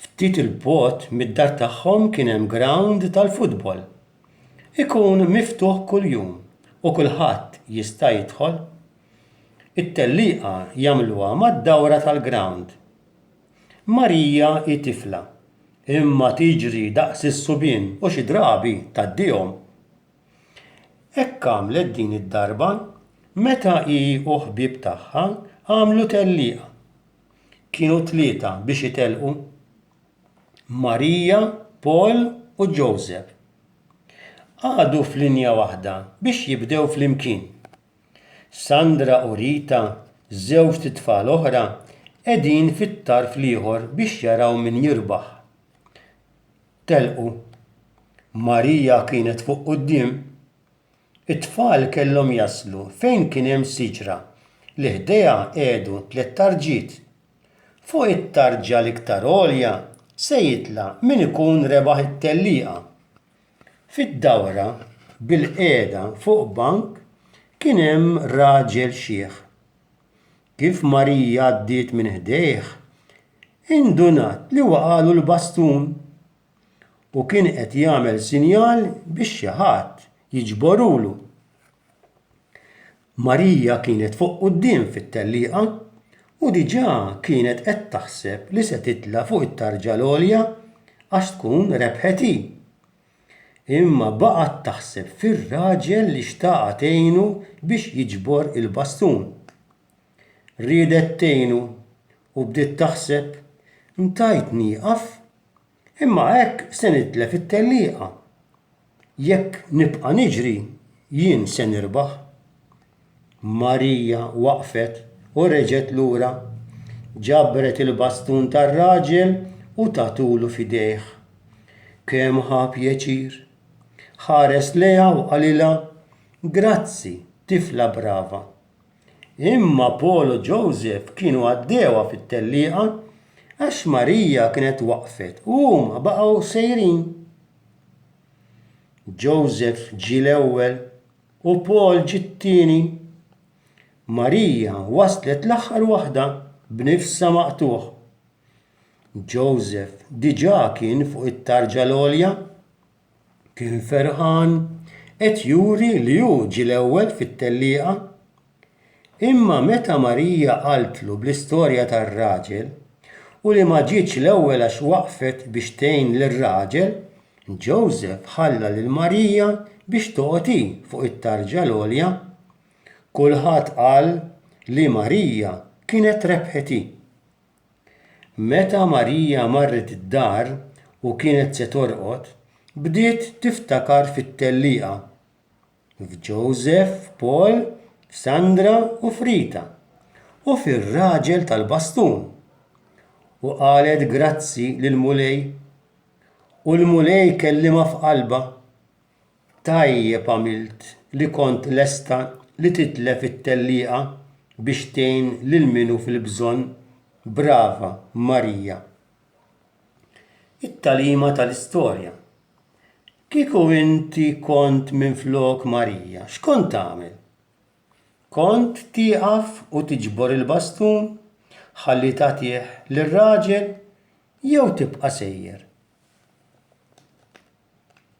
Ftit 'il bogħod mid-dar tagħhom kien hemm grawnd tal-futbol. Ikun miftuħ kuljum u kulħadd jista' jidħol. It-tellieqa jagħmluha mad-dawra tal-grawnd. Marija hi tifla, imma tiġri daqs is-subien u xi drabi tgħaddihom. Hekk għamlet din id-darba meta hi u ħbieb tagħha għamlu tellieqa. kienu tlieta biex itelqu, Marija, Paul u Joseph. Qagħdu f'linja waħda biex jibdew flimkien. Sandra u Rita, żewġt itfal oħra, qegħdin fit-tarf l-ieħor biex jaraw min jirbaħ. Telqu. Marija kienet fuq quddiem. It-tfal kellhom jaslu fejn kien hemm siġra li ħdejha qegħdu tliet tarġiet. Fuq it-tarġa l-iktar għolja se jitla' min ikun rebaħ it-tellieqa. Fid-dawra, bilqiegħda fuq bank, kien hemm raġel xiħ. Kif Marija għaddiet minn ħdejh, indunat li waqagħlu l-bastun. u kien qed jagħmel sinjal biex xi ħadd jiġborulu. Marija kienet fuq quddiem fit-tellieqa u diġà kienet qed taħseb li se titla' fuq it-tarġa l-għolja għax tkun rebħet hi. Imma baqgħet taħseb fir-raġel li xtaqha tgħinu biex jiġbor il-bastun. riedet tgħinu u bdiet taħseb, Ntajt nieqaf, imma hekk se nitlef it-tellieqa. Jekk nibqa' niġri, jien se nirbaħ. Marija waqfet u reġgħet lura. Ġabret il-bastun tar-raġel u tatulu f'idejh. Kemm ħa pjaċir! Ħares lejha u qalilha, Grazzi, tifla brava. Imma Paul u Joseph kienu għaddewha fit-tellieqa għax Marija kienet waqfet u huma baqgħu sejrin. Joseph ġie l-ewwel u Paul ġie t-tieni. Marija waslet l-aħħar waħda b'nifsha maqtugħ. Joseph diġà kien fuq it-tarġa l-għolja kien ferħan qed juri li hu ġie l-ewwel fit-tellieqa. Imma meta Marija qaltlu bl-istorja tar-raġel u li ma ġietx l-ewwel għax waqfet biex tgħin lir-raġel, Joseph ħalla lil Marija biex toqgħod hi fuq it-tarġa l-għolja. Kulħadd qal li Marija kienet rebħet hi. Meta Marija marret id-dar u kienet se torqod, bdiet tiftakar fit-tellieqa, f'Ġosef, f'Paul, f'Sandra u f'Rita, u fir-raġel tal-bastun, u qalet grazzi lill-Mulej, u l-Mulej kellimha f'qalbha, Tajjeb għamilt li kont lesta li titlef it-tellieqa biex tgħin lil min hu fil-bżonn, brava Marija. It-tagħlima tal-istorja. Kieku inti kont minflok Marija, x'kont tagħmel? Kont tieqaf u tiġbor il-bastun ħalli tagħtih lir-raġel jew tibqa' sejjer?